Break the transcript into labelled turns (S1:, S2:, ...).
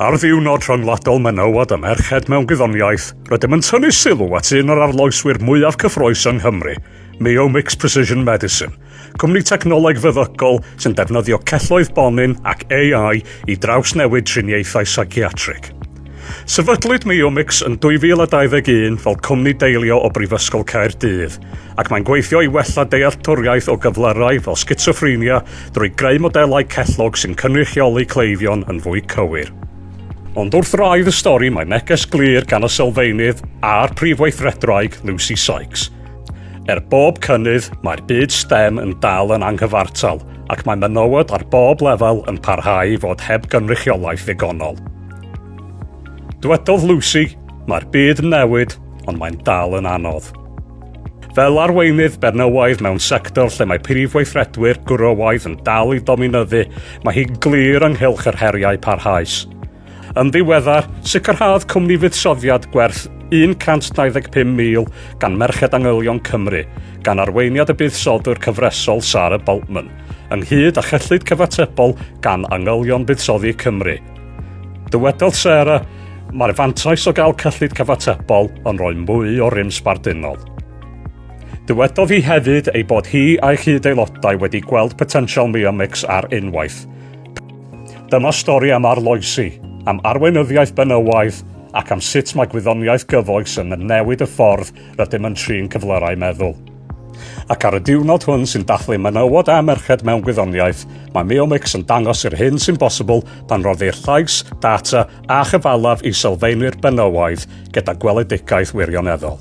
S1: Ar ddiwrnod rhyngwladol menywod a merched mewn gwyddoniaeth, rydym yn tynnu sylw at un o'r arloeswyr mwyaf cyffrous yng Nghymru, Miomics Precision Medicine, cwmni technoleg feddygol sy'n defnyddio celloedd bonyn ac AI i drawsnewid triniaethau seiciatrig. Sefydlwyd Miomics yn 2021 fel cwmni deillio o Brifysgol Caerdydd, ac mae'n gweithio i wella dealltwriaeth o gyflyrau fel sgitsoffrenia drwy greu modelau cellog sy'n cynrychioli cleifion yn fwy cywir. Ond wrth raidd y stori mae neges glir gan y sylfaenydd a'r prif weithredraig, Lucy Sykes. Er bob cynnydd, mae'r byd STEM yn dal yn anghyfartal ac mae menywod ar bob lefel yn parhau i fod heb gynrychiolaeth ddigonol. Dwedodd Lucy, Mae'r byd yn newid, ond mae'n dal yn anodd. Fel arweinydd Bernywaidd mewn sector lle mae prif weithredwyr gwrywaidd yn dal i dominyddu, mae hi'n glir ynghylch yr heriau parhaus. Yn ddiweddar, sicrhaodd cwmni fuddsoddiad gwerth 125,000 gan Merched Angylion Cymru, gan arweiniad y buddsoddwr cyfresol Sarah Boltman, ynghyd â chyllid cyfatebol gan Angylion Buddsoddi Cymru. Dywedodd Sarah, Mae'r fantais o gael cyllid cyfatebol yn rhoi mwy o rym sbarduno. Dywedodd hi hefyd ei bod hi a'i chyd-aelodau wedi gweld potensial Mia Mix ar unwaith. Dyma stori am arloesi, am arweinyddiaeth benywaidd ac am sut mae gwyddoniaeth gyfoes yn newid y ffordd Rydym yn trin cyflyrau meddwl. Ac ar y diwrnod hwn sy'n dathlu menywod a merched mewn gwyddoniaeth, mae Meomix yn dangos yr hyn sy'n bosibl pan roddir llais, data a chyfalaf i sylfaenwyr benywaidd gyda gweledigaeth wirioneddol.